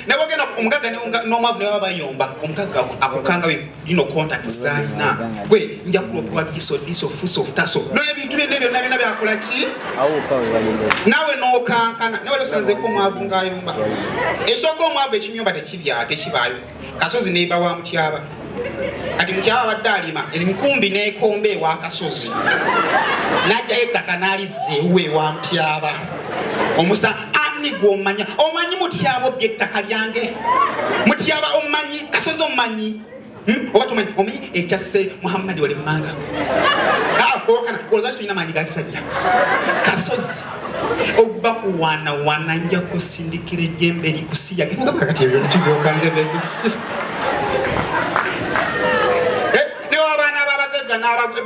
nebagenda omugaga nomwavu nebaba bayomba omugaga akukanga ino contact zalina gwe njakula okuwa kiso diso fuso taso noyo ebintu byene byonna byona byakola ki nawe nokankana nawe losanzeko omwavu ngayomba esooka omwavu ekinyumba tekibya tekibaayo kasozi nemba wa mutyaba kati mutyaba abadde alima enkumbi nekomba ewa kasozi najjayo ettaka nalizza ewuwe ewa mutyaba omusa ani gwomanya omanyi mutyaba obya ettaka lyange mutyaba omanyi kasozi omanyi hmm? oba tomanyi omanyi ekyasse muhammadi wali mumanga ah, olwaki tulina maanyi gakisajja kasozi okubakuwaanawaana nja kusindikira ejjembe likusiya kikugamba kati ebyo kibyokanga byekisi eh, newabaana babagagga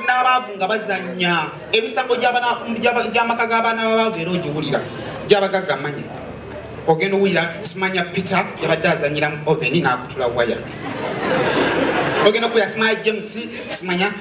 n'abaavu nga bazannya emisango gy'amaka g'abaana babaavu era ogiwulira gyabagagga manya ogenda owulira simanya peter yabadde azanyira mu oveni n'akutula waya ogenda okuwulira simanya james simanya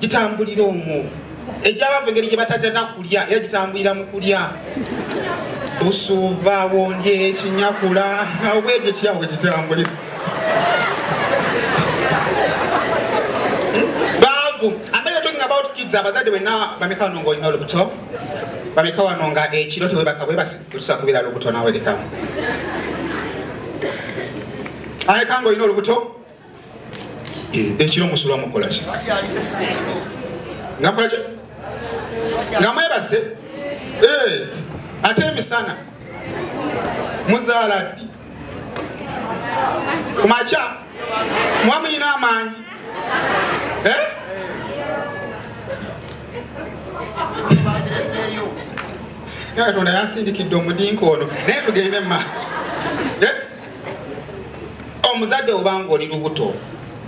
gitambulira omwo egyabava engeri gye batatana kulya era gitambulira mu kulya busuuva wondye ekinyakula obwegityawo gitambulira baavu ambere talking about kids abazadde wenna bameka wano ngaolina olubuto bameka wano nga ekiro tewebaka bwebasitusa kubeera lubuto nawe lekamu aleka ngaolina olubuto Eh, ekiro musula mukolaki nga mukolaki nga mwebase eh, ate emisana muzaala ddi kumakya muba muyina amaanyi eh? katonda yansindikidde omudinka ono naye tugende ma omuzadde obanga oli lubuto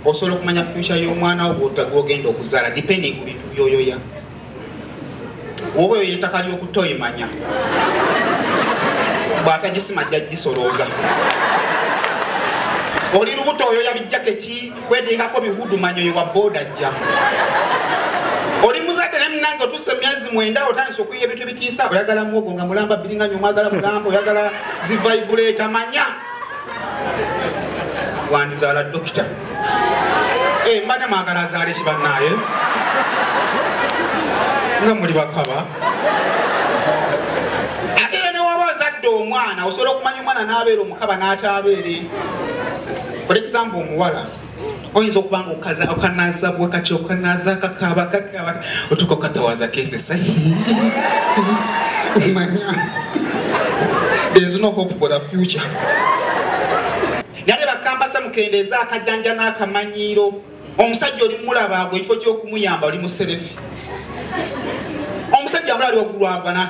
osobola okumanya future y'omwana wo gwogenda okuzaala depending ku bintu byoyoya oba oyo ettaka ly'okutta oyimanya bw'atagisima jja gisolooza oli lubuto oyoya bijjaketi kwedingako biwudu manyoyi wa boda jja oli muzadde naye munange otuuse myezi mwenda otandisa okuyiya ebintu ebitiisa oyagala muwogo nga mulamba biringanyo omwagala mulamba oyagala zivaibuleeta manya wandizaala dokita eh, mbadde mwagala azaala ekibannaye nga muli bakaba ate era newaba ozadde omwana osobola okumanya omwana n'abeera omukaba n'ataabeere for example omuwala oyinza okuba nga okaza okanaza bwekati okanaza kakaba kakaba otuka okatawaza kesesa omanya there's no hope for the future nale bakambasa mukendeeza akajanja n'akamanyiiro omusajja oli mulaba gwe ekifo ky'okumuyamba oli muserefi omusajja mulali waggulu agwana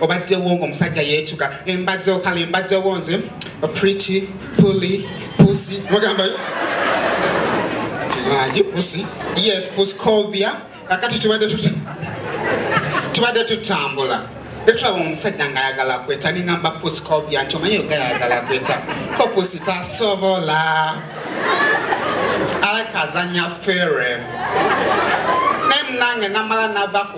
obaddewo ng'omusajja yeetuka embadde okala embaddewo nze pretty puli pusi mugambayo mangi pusi yes pusi covia kakati tubadde tuti tubadde tutambula etulaba omusajja ngaayagala kweta ningamba pusi covia nti omanyi ogayagala kweta ko pusi tasobola alakazanya fere naye munange namala navaku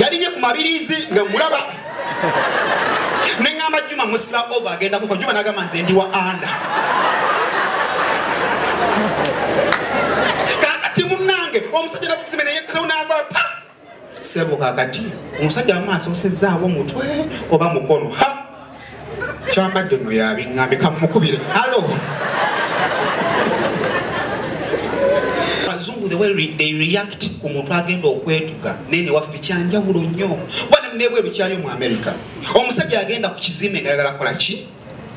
yalinye ku mabirizi nga mulaba neŋamba juma musiba ova agenda kuko juma nagamba nze ndi wa anda kakati munange omusajja nakukusime naye ktonagwa pa sebo kakati omusajja amaaso osezaawo mutwe oba mukono ha kyambadde no yabiŋŋambe kamumukubire alo abazungu the way they react ku muntu agenda okwetuga naye newaffe kyanjawulo nnyo kuba nebweru kyaliyo mu america omusajja agenda ku kizimbe nga yagala kola ki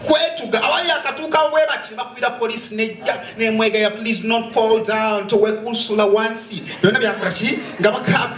kwetuga awali akatuukawo bwe bati bakubira poliisi nejja nemwegaya please not fall down towekusula wansi byonna byakola ki nga bakaba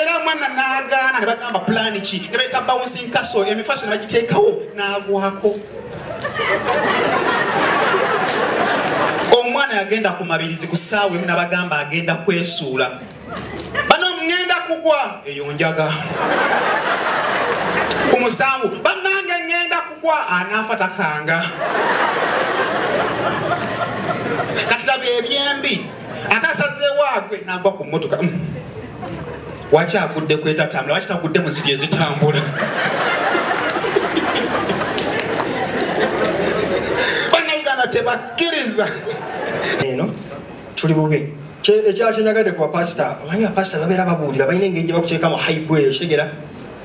era mwana nagaana ne bagamba pulaani ki ne bayita bouncing castle emifaso ne bagiteekawo n'agwako omwana yagenda ku mabirizi ku saawa emu nabagamba agenda kwesuula bano ŋŋenda kugwa eyo njaga ku musango bannange ŋŋenda kugwa anaafa takanga katilaba ebyembi ate asazeewo agwe nagwa ku mmotoka mm. waki agudde kwetatambula waki tagudde mu ziri ezitambula banauganda tebakkiriza eno tuli bubi ekyakyenyagadde ku bapasita omanyi bapasita babeera babuulira balina engeri gye bakuteekamu haibweyo kitegera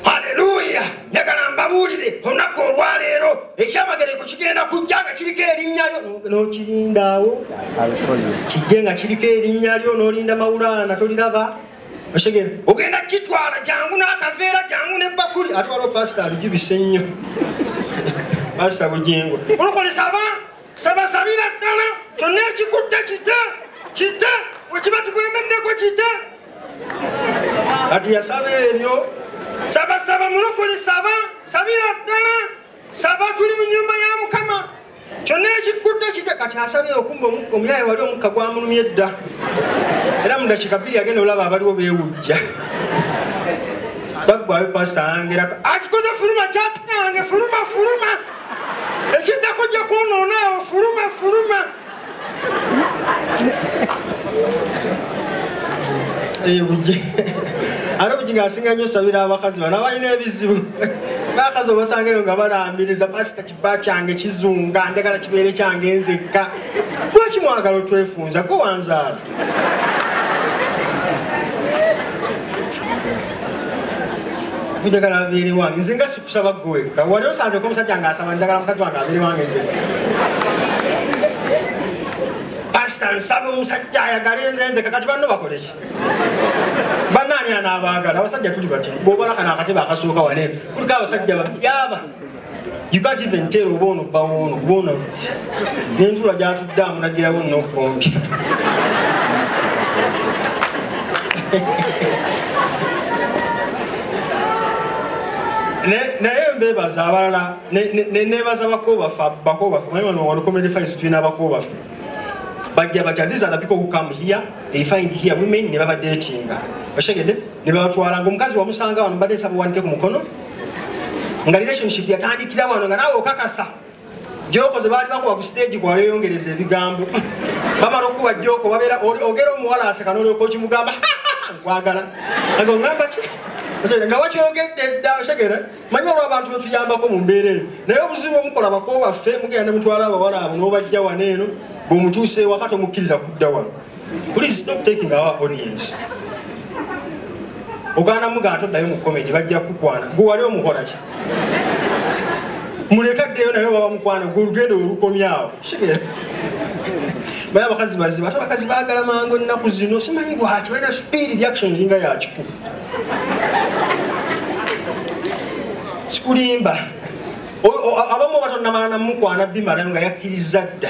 haleluya njagala mbabuulire olunaku olwaleero ekyamagereko kigenda kujja nga kiriko erinnya lyo nokirindaawo kijje nga kiriko erinnya lyo nolinda mawulaana toliraba otegere ogenda kitwala jangu n'akaveera jangu nebbakuli ate waliwo pasita abijubise nnyo pasita bugingo olukolesa abantu sabasabira ddala kyonna ekigudde kite kite wekiba kikulemeddeko kite kati yasaba ebyo sabasaba mulokole saba sabira ddala saba tuli mu nyumba ya mukama kyonna ekigudde kite kati asabye okumba omuyaye wali omukka gwamulumye dda era mudakika bbiri agenda olaba abaliwo bewujja bagwayo pasita angera akikoze fuluma kyakikange fuluma fuluma ekiddako jja kwonoona awo fuluma fuluma ebugi ate obugi ngaasinga nnyo sabira abakazi bano abalina ebizibu bakazi obasangayo nga balambiriza pasita kiba kyange kizunga njagala kibeere kyange nzekka lwaki mwagala otwefunza gwe wanzaala njagala abeere wange nze nga sikusaba gweka wali osanzeko omusajja nga asaba njagala mukazi wange abeere wange nze pasita nsaba omusajja ayagale nze nze kakati banno bakoleki banaani anaabaagala abasajja tuli bati bwobalakana akatebe akasooka wale kuliko abasajja babyaba You can't even tell oba ono bbawo ono kuba ono n'entula gy'atudde amunagirawo n'okukombya naye mbebaza abalala nebaza bakobafa bakobafa naye wano wano comedy files tulina bakobafe bajja batya these are the people who come here they find here women ne babadetinga oshegede ne babatwala ngaomukazi wamusanga wano mbadde nsaba wanike ku mukono nga relationship yatandikira wano nga nawe okakasa gyokoze baali bakuwa ku stage kwali oyongereza ebigambo bamala okukuwa gyoko babeera ogera omuwala aseka nolyoka okimugamba nkwagala ago ngamba ki nga wakyogedde dda osegere manyi olwa abantu betuyambako mu mbeera eyo naye obuzibu omukola bako baffe mugenda ne mutwala abawala abo n'obajja wano eno bwemutuusa ewaka tomukkiriza kudda wano Please stop taking our audience. Ogana mugana to dayo mu comedy bajja kukwana. Gwe wali omukola ki? Muleka deyo nayo baba mukwana gwe lugendo olukomyawo. Shigera. Baya abakazi baziba ate abakazi baagala mangu ennaku zino simanyi gwaki balina speed reaction eringa yakiku. Sikulimba. Abamu batonda malana mukwana bimala nga yakiriza dda.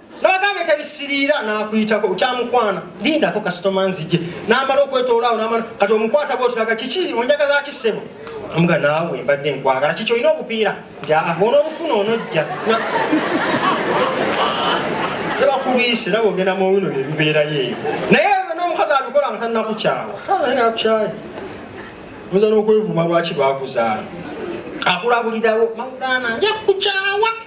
nabagambye tebisiriira nakuyitako bukyamukwana lindako kasitoma nzije namala okwetoolaawo namala kati omukwata bwotilaga kiki onjagala kisebo amuga naawe mbadde nkwagala kiki olina obupiira bona obufuna onojja tebakulwise naba ogenda muwino byebibeerayo eyo naye nomukazi abikola nga tanakukyawa nakukyaye oyinza n'okwevuma lwaki bakuzaala akulabulirawo mawulana nja kukyawa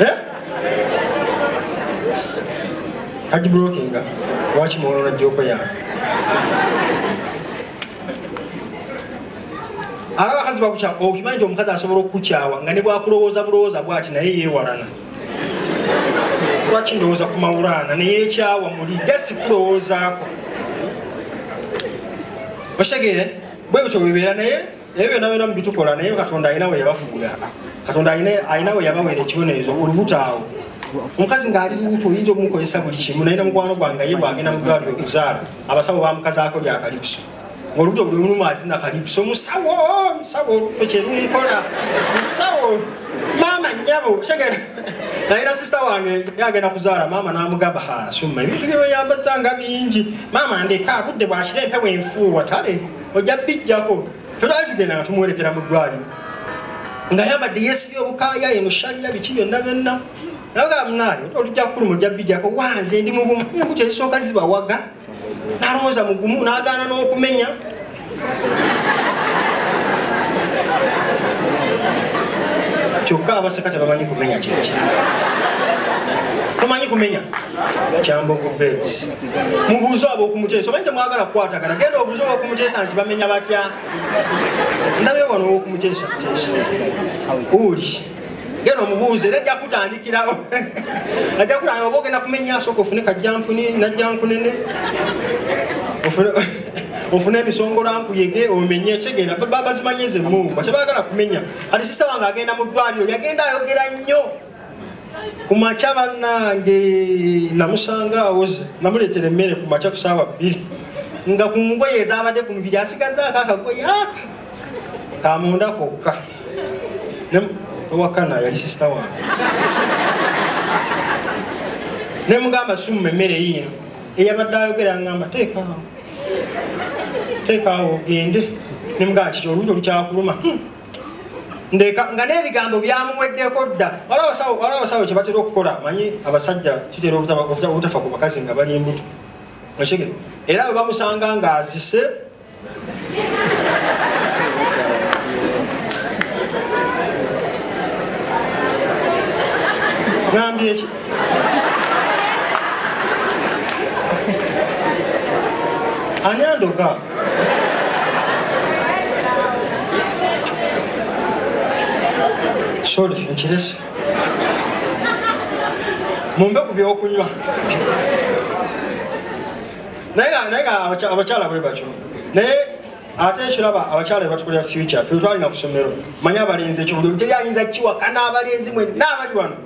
eh? agibulokinga lwaki mwonoona joopa yange ala abakazi bakukyawa okimanyi nti omukazi asobola okukukyawa nga ne bwakulowooza bulowooza bwati naye yeewalana lwaki ndowooza ku mawulaana neyekyawa muli jasi kulowoozaako oshegere bwebutyo bwebeera naye ebyo byonna byonna mubitukola naye katonda alina we yabafuula katonda alina we yabawera ekibonerezo olubuto awo omukazi ng'ali lubuto oyinza omukozesa buli kimu naye namukwano gwange ye bwagenda mu ddwaliro okuzaala abasawo bamukazaako lya kalipuso ng'olubuto buli lumu azina kalipuso musawo musawo olubuto kyerunkola musawo maama nyabo kyegera naye na sisita wange yagenda kuzaala maama n'amugamba hasumma ebintu bye weyambazanga bingi maama ndeka budde bwakira empewo enfuuwa tale ojja bijjako tolali tugenda nga tumuwerekera mu ddwaliro nga yambadde yesibye obukaya ye mushalira biki byonna byonna nagamnaye olijja kukuluma ojja bijjako wanze ndi mubumu embuto ezisooka zibawaga nalowooza mugumu nagaana n'okumenya kyokka abaseka tebamanyi kumenya kyekya tomanyi kumenya kyambogo bebs mubuuze abokumuteesa oba ntemwagala kukwatagana genda obuuze obokumuteesa nti bamenya batya ndabe wano owokumuteesa teesa uli genda omubuuze era ajja kutandikirawo ajja kutandikira oba ogenda kumenya asooka ofune kajjampuni najjankunene ofune emisongorankuyege omenye kigenda babazimanyeze mumba tebagala kumenya kati sisaba nga agenda mu ddwaliro yagenda ayogera nnyo ku makya bannange namusanga awoze namuleetera emmere ku makya ku saawa bbiri nga ku ngoye ezabadde ku mubiri asigazaako akagoye aka kamunda kokka owakana yali sisita wange ne mugamba summa emmere yiino eyabadde ayogera ngamba teekaawo teekaawo ogende ne mugamba kiki olulyo olukyakuluma hmm. ndeka nga n'ebigambo byamuweddeko dda wala abasawo wala abasawo kye batera okukola manyi abasajja kitera obutafa ku bakazi nga bali embuto okige era bwe bamusanga ng'azise ngambye ki ani andoga sorry nkirese mumbe ku byokunywa naye nga abakyala bwe batyo naye ate ekiraba abakyala bebatukulira future fe twalina ku ssomero manye abalenzi ekyo buli omuteri ayinza kiwakana abalenzi mwenna abali wano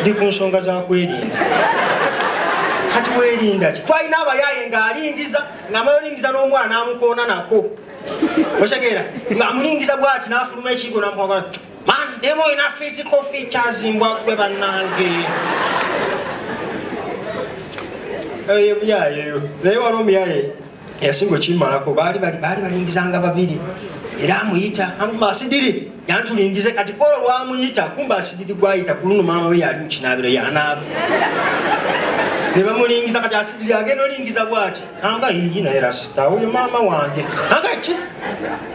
ndi ku nsonga za kwerinda kati werinda ki twalina abayaaye ng'alingiza ng'amayolingiza n'omwana amukoona nako osegeera ng'amulingiza bwati n'afuluma ekigo namukwagala mani demu olina physical features mbwa gwe bannange eyo eh, ebyayeyo naye wali omuyaye eyasinga okimalako baali balingizanga babiri era amuyita amuma asidiri yantulingize kati kolo lwamuyita kumba asidiri gwayita kuluno maama we yali mukinabiro yanaaba nebamulingiza kati asidiri agenda olingiza bwati anga yiyi naye rasita oyo maama wange aga ki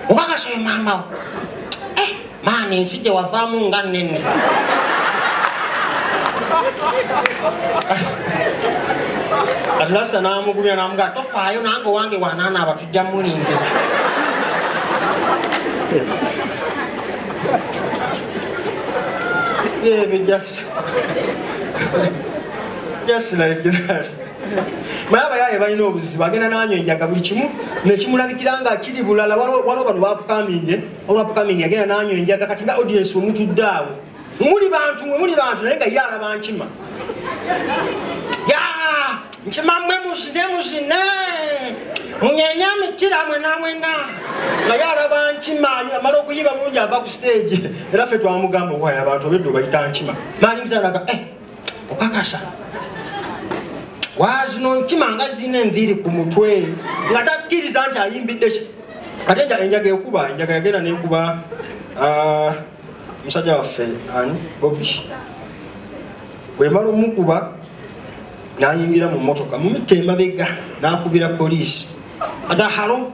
okakasa oyo maamawo maama ensi gye wavaamu nga nnene atlasa n'amugumya n'amugaa tofaayo nange owange wanaana abatujja mulingiza yeah, but just, just like that. naye abayaaye balina obuzibu agenda nanywa enjaga buli kimu nekimulabikira nga kiri bulala waliwo bano bapukaminge olwa pkaming yagenda nanywa enjaga kati nga audiensi omutudde awo muli bantu mwe muli bantu naye nga ye alaba nkima ya nkima mwe muzine muzine munyanya mitira mwena mwena nga ye alaba nkima amala okuyiba bulungi ava ku stage era ffe twamugamba okwaya abantu obedde obayita nkima malingisanaga eh. okakasa wazino nkima nga zina enviiri ku mutwe nga takkiriza nti ayimbidde ki ate enjaga ekuba enjaga yagenda nekuba ah, musajja waffe ani bobi bwemala omukuba nayingira mu motoka mumita emabega nakubira poliisi agahalo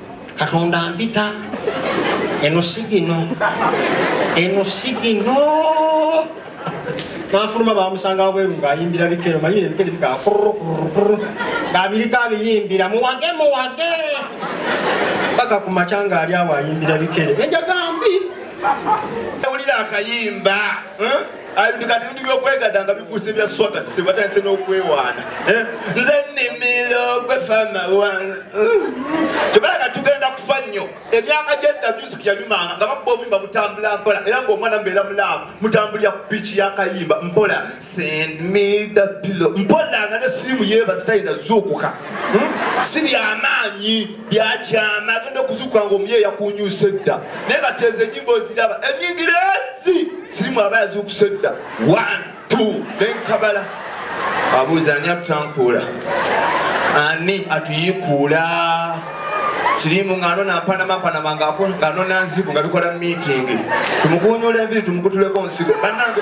katonda mpita eno sigino eno sigino nafuluma bamusanga wabweru ngaayimbira bikero manyire ebikere bika ngabiriko abiyimbira muwage muwage paka ku makya ngaali awo ayimbira bikere enjagambi ewulira akayimba eh? Ayo kati ndi byokwegada nga bifuuse bya swaga sisi batandise n'okwewaana eh? nze nimiro gwe fama wana kyokala nga tugenda kufa nnyo emyaka gyedda music yanyumanga nga babba obuyimba butambula mpola era ng'omwana mbeera mulaavu mutambulira ku biiki yakayimba mpola send me the pillow mpola nga ne sirimu yeebazitayinza zuukuka hmm? si byamaanyi byakyama agenda okuzuuka nga omuye yakunyusa edda naye kati ezo enyimba oziraba enyingira ezi sirimu aba yazuukusa edda one two nenkabala abuuza ani atutankuula ani atuyiikuula sirimu ng'ano nampanamanpanama ng'ano nanzibu nga bikola mu miitingi tumukunyula enviri tumukutuleko nsigo bannange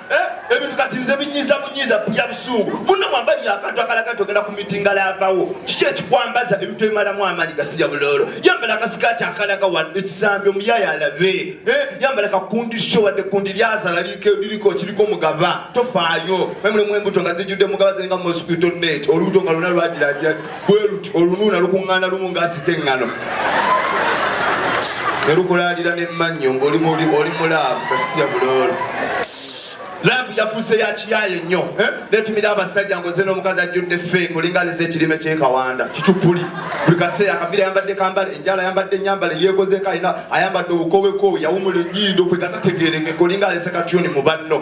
Eh, ebintu kati nze binyiza bunyiza pulya busungu muno mwambalira akantu akalaga nti ogenda ku mitinga laavawo kiki ekikwambaza ebintu ebimalamu amaanyi gasiya buloolo yambala akasikaati akalaga wa ekisambi omuyaayo alabe eh, yambala kakundisho wadde kundi lyazala liriko kiriko mugaba tofaayo memulemu embuto nga zijjudde mugaba ziringa mosquito net olubuto nga lona lwagiragirani bwe luti olunuuna lukuŋŋaana lumu ng'asika eŋŋano ne lukulaalira n'emmannyo ng'oli mu laavu kasiya buloolo laavu yafuuse ya kiyaaye nnyo eh? netumira abasajja ngoze n'omukazi ajjudde feeke olinganiza ekirime ky'ekawanda kicupuli buli kaseera akavira ayambadde kambale enjala ayambadde enyambale yeekozeeko alina ayambadde obukowekoowe yawumula ennyindo kwe gatategeerekeka olinga alese katyuni mu banno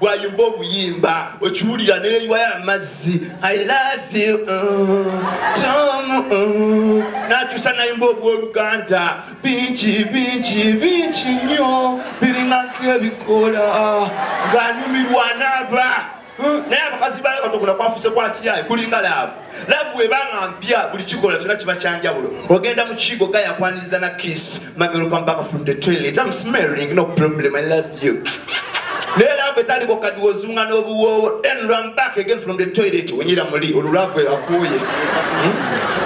bwayimba obuyimba okiwulira neyiwayo amazzi i love you mm, tom mm. nakyusa nayimba obwoluganda bingi bingi bingi nnyo biringako ebikola ng'anyumirwa naaba mm, naye abakazi balaga tokuna kwafuse kwakiyaye kulinga laavu laavu webanga mpya buli kikola kyona kiba kyanjawulo ogenda mu kiigo ga yakwaniriza na kiss mamirupampaka from the toilet am smelling no problem i love you naye laavu etaliko kadi wozunga n'obuwoowo then run back again from the toilet wenyira muli olwo laavu akuuye hmm?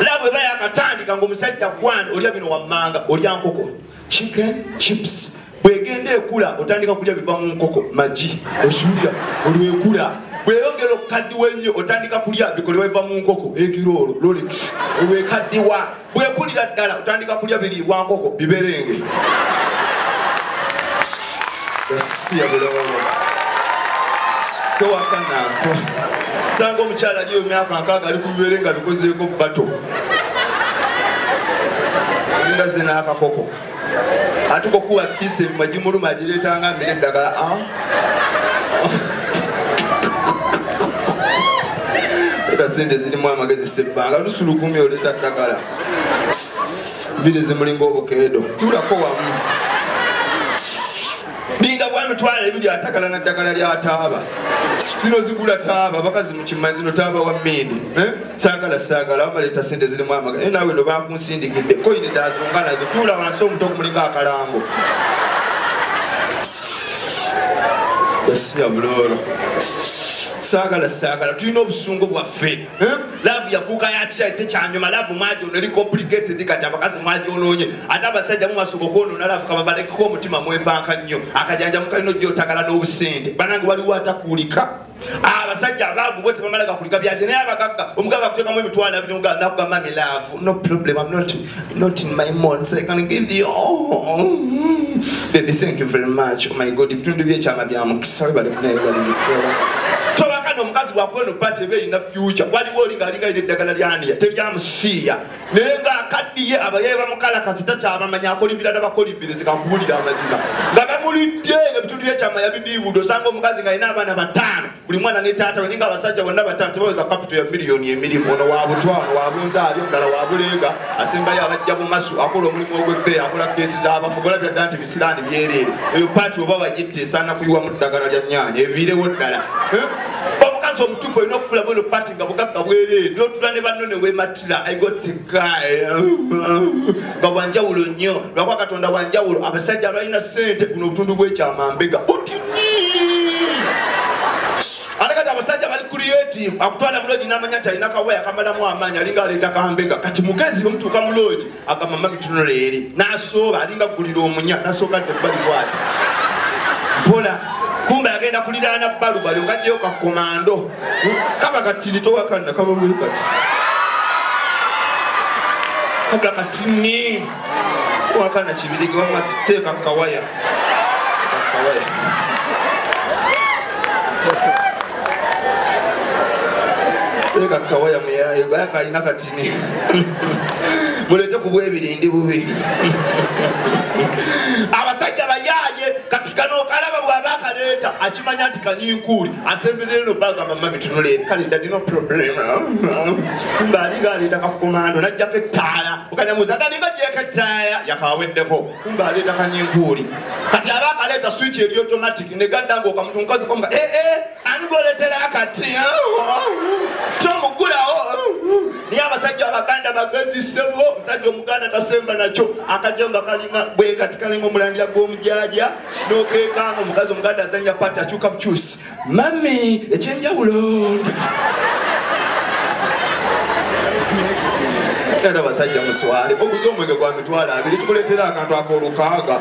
laavu eba yakatandika ngaomusajja kwana olya bino wammanga olya nkoko chicken chips bwegenda ekula otandika kulya biva mu nkoko magi okiwulira olwekula bweyongera okukaddiwa ennyo otandika kulya bikolebwa biva mu nkoko egiroolo lolix olwekaddiwa bwekulira ddala otandika kulya biriibwa nkoko biberenge tewakanaako sanga omukyala aliyo emyaka nkaaga ali ku bibeere nga bikozeeko bato nga zina akakoko atuka okuwa kiisi ebima gimuluma agireetanga mbere eddagala ah. kasente zirimu amagezi sebbanga lusulugumi oleeta ddagala mbiri zimulinga obukeedo tulako wamu ninga bwami twala ebiri atakala na ddagala lya taaba zino zigula taaba bakazi mukimanyi zino taaba wa mindi eh? sagala sagala bamaleeta sente zirimu amagala naye nawe no bakunsindikidde koyini zazunga nazo tuula wansi omuto okumulinga akalango yasiya buloolo sagala sagala tulina obusungu bwaffe laavu yafuuka yakya tekyanyuma laavu mwajoona eri complicated kati abakazi mwajonoonye ate abasajja mumasooka okwonoona laavu kababalekeko omutima mwepanka nnyo akajanja mukalina ojja otagala n'obusente banange waliwo atakuulika abasajja abaavu bwe tebamala gakulika byakye naye abagagga omugagga akutekamu emitwalo abiri nakugamba mi laavu no problem am not Not in my months, I can give you all. Baby, thank you very much. Oh my God, ibitundu by'ekyama bya mukisa webale kunaye bali bitera. Tobaka n'omukazi wakweno bate ebe erina future. Waliwo oli ng'alinga eri eddagala lyaniya, teryamusiiya. Naye ng'akaddiye abaye bamukalakasi takyabamanya akolimbira n'abakolimbire zikakubulira amazima. Nga bamulidde ebitundu by'ekyama yabidiibudde osanga omukazi ng'alina abaana bataano. buli mwana ne taata we ninga abasajja bonna batano tebaweza kapito ya miliyoni emirimu ono wa butwa ono wa bunza ali omulala wa buleega asembayo abajja mu masu akola omulimu ogw'ebbeeyi akola keesi z'abafu golabira ddala nti bisiraani byereere eyo paati oba bagitte esaana kuyiwa mu ddagala lya nyaanya eviirewo ddala eh? omukazi omutuufu olina okufula bweno paati nga bugagga bwereere n'otula ne banno ne wemat I got a guy nga wanjawulo nnyo lwakuba katonda wanjawulo abasajja abalina sente kuno obutundu bwekyama mbega ate kati abasajja bali creative akutwala muloogi namanya nti alina kawaya kamalamu amaanyi alinga aleeta kambega kati mugezi bwemutuuka muloogi agamba mama bitunula eri nasooba alinga gulira omunya nasooka dde bali bwati mpola kumbe agenda kuliraana balu bali okajjayo kakomando kaba katiri towakanna kaba bwe kati kabula katini wakana kibirige wama teeka kawaya kawaya teeka kawaya muyaye bayakalina kati mulete kubwebiri ndi bubi abasajja bayaye kati kano okalaba bwaba akaleeta akimanya nti kanyinkuuli asemberere no baga mama mitunuleeri kale dadi no problem kumbe alinga aleeta kakomando najjako ettaala okanyamuza dalinga jeko ettaala yakaweddeko kumbe aleeta kanyinkuuli kati aba akaleeta switch eri automatic negaddanga okamutu mukazi komuka ee eh, eh. ani gwoletera akati kyomugulawo naye abasajja abaganda bagezi sebo omusajja omuganda tasemba nakyo akajamba kalinga bwekati kalinga omulandira gwomujaja nokekanga omukazi omuganda azanya pati akyuka bukyusi mami ekyenjawulo era basajja muswale okuza omwenge gwa mitwalo abiri tukuletera akantu akolukaaga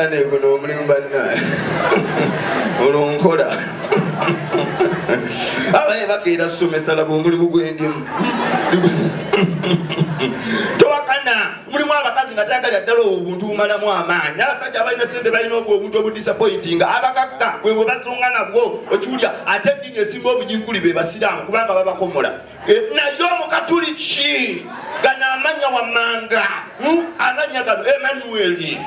ane guno omulimu bannaye olwonkola abaye bakeera somesa laba omulimu gwendimu towakana mulimu abakazi nga tayagalira ddala obuntu bumalamu amaanyi n'abasajja abalina sente balina obwo obuntu obudisapointinga abakakka bwe bwe bazunga nabwo okiwulya ate edini esinga obujiguli be basiraamu kubanga babakomola eh, naye omukatuliki gano amanya wamanga hmm? amanya gano emanueli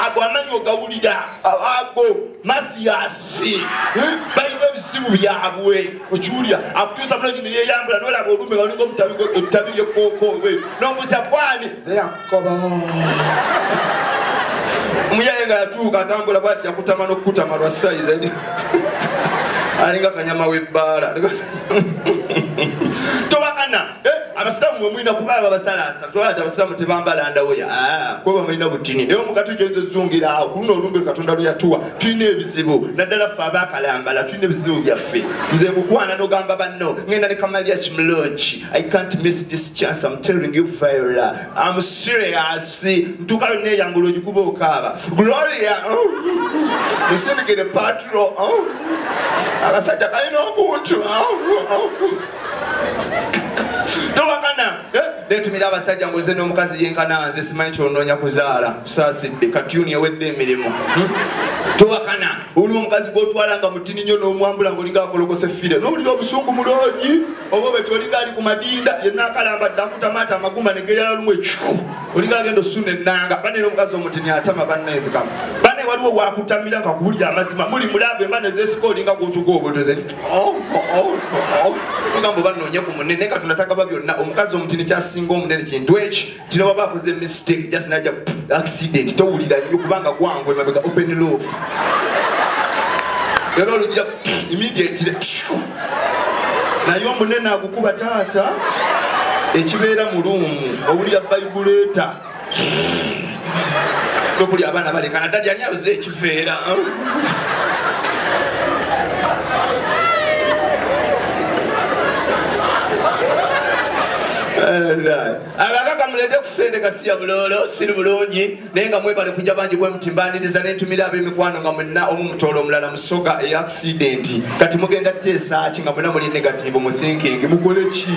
ago amanya ogawulira ago mathiasi hmm? balina ebizibu byabwe okiwulira akutuusa munogi neyeyambula nolaba olumbe balinga omutabi lyekoko nombuza kwani koba omuyaye nga yatuuka atambula bwati yakutama nokukutama lwa sayize alinga kanyama webbaala tobakana eh, abasiraamu mwemulina kuba babasalaasa tobati abasiraamu tebambala ndawoya ah, kuba bamulina butini naye omugati gyozozungiraawo kuluno olumbe katonda lweyatuwa tulina ebizibu naddala ffe abakalambala tulina ebizibu byaffe nze mukwana nogamba banno ngenda ne kamalya kimulongi I can't miss this chance. I'm telling you, Viola. I'm serious. Ntuka lwe neyambula ogikuba okaaba. Gloria. Oh. Musindikire patro. Oh. Abasajja balina obuntu. Oh. Tobagana. Eh? Netumira abasajja ngoze n'omukazi yenkana nze simanyi kyonoonya kuzaala. Kusaasidde katuni ewedde emirimu. Hmm? Tobakana. Oli omukazi gw'otwala nga mutini nnyo n'omwambula ng'olinga akolokose fire. N'owulira obusungu muloogi. oba bwe toliga ali ku madinda yenna akalamba dda akutamaata amaguma ne geyala lumu ekiku oliga agenda osuna ennanga banene omukazi omutini atama bannaezikamu bane waliwo wakutamira nga kubulya amazima muli mulaba emba nezesika olinga gutuka obutuze oh, oh, oh, ogamba oba noonye ku munene katonda tagaba byonna omukazi omutini kyasinga omunene kintu eki kino baba akoze mistake just naja accident towulira nnyo kubanga gwangu emabega open love era olujja immediately naye omunene agukuba taata ekibeera mu luumu owulira vibrator nokuli abaana balekana dadi ani ayoze ekiveera abagaga mulede kusente gasiya bulolo siri bulungi naye nga mwebale kujja bangi bwemuti mbaniriza nentumira abemikwano nga mwena omu mutoola omulala musoga eya akisidenti kati mugenda teesaaki nga mwena muli negativu mu thinking mukole ki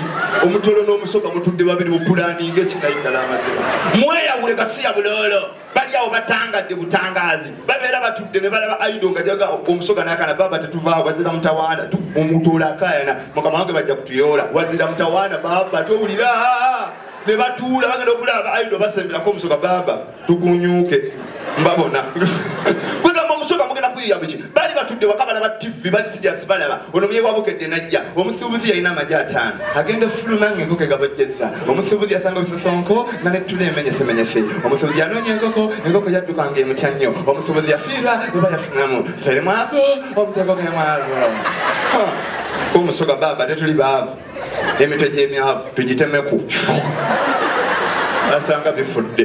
omutolo n'omusoga mutudde babiri mupulaninga ekinayiddala amazima mweyawule gasiya bulolo bali awo batangadde butangazi babeera batudde ne balaba aido nga jaga omusoga nakana baba tetuvaawo wazira mutawaana omutuula akayana mukama wange bajja kutuyoola wazira mutawaana baba towulira ne batuula bagenda okulaba aido basemberako omusoga baba tukunyuuke mbabona kwegamba omusoga mugenda kuyiya biki bali batudde waka balaba tv bali sijasi balaba ono muye wabukedde najja omusuubuzi yalina amagi ataano agenda ofuluma nga enkoko egabajjeza omusuubuzi yasanga olusosonko nga nettula emenyesemenyese omusuubuzi yanoonya enkoko enkoko yadduka nga emutya nnyo omusuubuzi yafiirwa eba yafunamu teri mwavu omutego ge mwavu omusoga baaba tetuli baavu emitwe gy'emyavu tugitemeku asanga bifudde